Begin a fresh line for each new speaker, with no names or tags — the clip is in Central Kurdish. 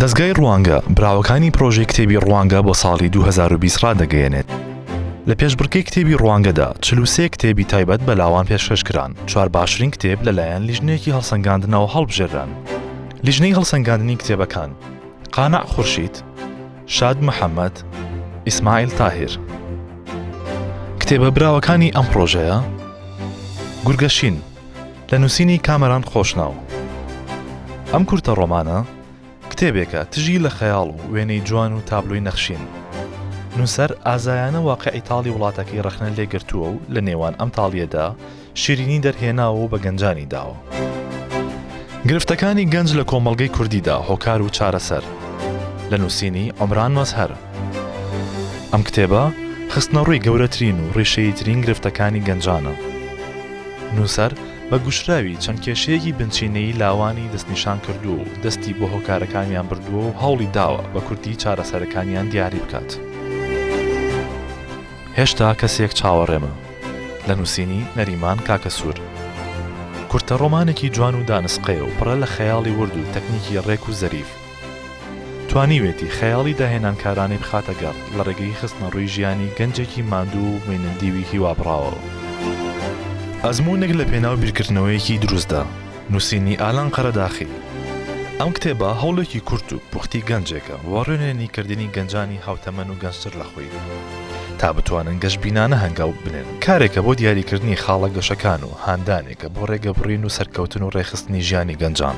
دەزگای ڕوانگە براوەکانی پرۆژەی کتێبی ڕوانگە بۆ ساڵی 2020 ڕادەگەیەنێت. لە پێشبڕکەی کتێبی ڕوانگەدا چلوسێ کتێبی تایبەت بە لاوان پێشکەشکران چوار باشترین کتێب لەلایەن لیژنێکی هەڵسەنگاندنەوە هەڵبژێران. لیژنەی هەڵسەنگاندنی کتێبەکان قانع خورشید، شاد محەممەد، ئیسماعیل تاهیر. کتێبە براوەکانی ئەم پرۆژەیە گورگەشین لە نووسینی کامەران خۆشناو. ئەم کورتە ڕۆمانە، کتێبێکە تژی لە خەیاڵ و وێنەی جوان و تابلۆی نەخشین. نووسەر ئازایانە واقیعی تاڵی وڵاتەکەی ڕەخنە لێ گرتووە و لە نێوان ئەم تاڵییەدا شیرینی دەرهێناوە و بە گەنجانی داوە. گرفتەکانی گەنج لە کۆمەڵگەی کوردیدا، هۆکار و چارەسەر، لە نووسینی، عومران مەزهەر. ئەم کتێبە خستنەڕووی گەورەترین و ڕیشەییترین گرفتەکانی گەنجانە. نووسەر بە گوشراوی چەند کێشەیەکی بنچینەیی لاوانی دەستنیشان کردووە و دەستی بۆ هۆکارەکانیان بردووە و هەوڵی داوە بە کورتی چارەسەرەکانیان دیاری بکات. هێشتا کەسێک چاوەڕێمە. لە نووسینی، نەریمان کاکەسوور. کورتە ڕۆمانێکی جوان و دانسقەیە و پڕە لە خەیاڵی ورد و تەکنیکی ڕێک و زەریف. توانیوێتی خەیاڵی داهێنانکارانەی بخاتە گەڕ لە ڕێگەی خستنەڕووی ژیانی گەنجێکی ماندوو و مێنندیوی هیوابڕاوەوە. ئەزموونێک لە پێناو بیرکردنەوەیەکی دروستدا. نووسینی ئالان قەرەداخی. ئەم کتێبە هەوڵێکی کورت و پوختی گەنجێکە بۆ ڕێنوێنی کردنی گەنجانی هاوتەمەن و گەنجتر لە خۆی تا بتوانن گەشبینانە هەنگاو بنێن. کارێکە بۆ دیاریکردنی خاڵە گەشەکان و هاندانێکە بۆ ڕێگەبڕین و سەرکەوتن و ڕێکخستنی ژیانی گەنجان.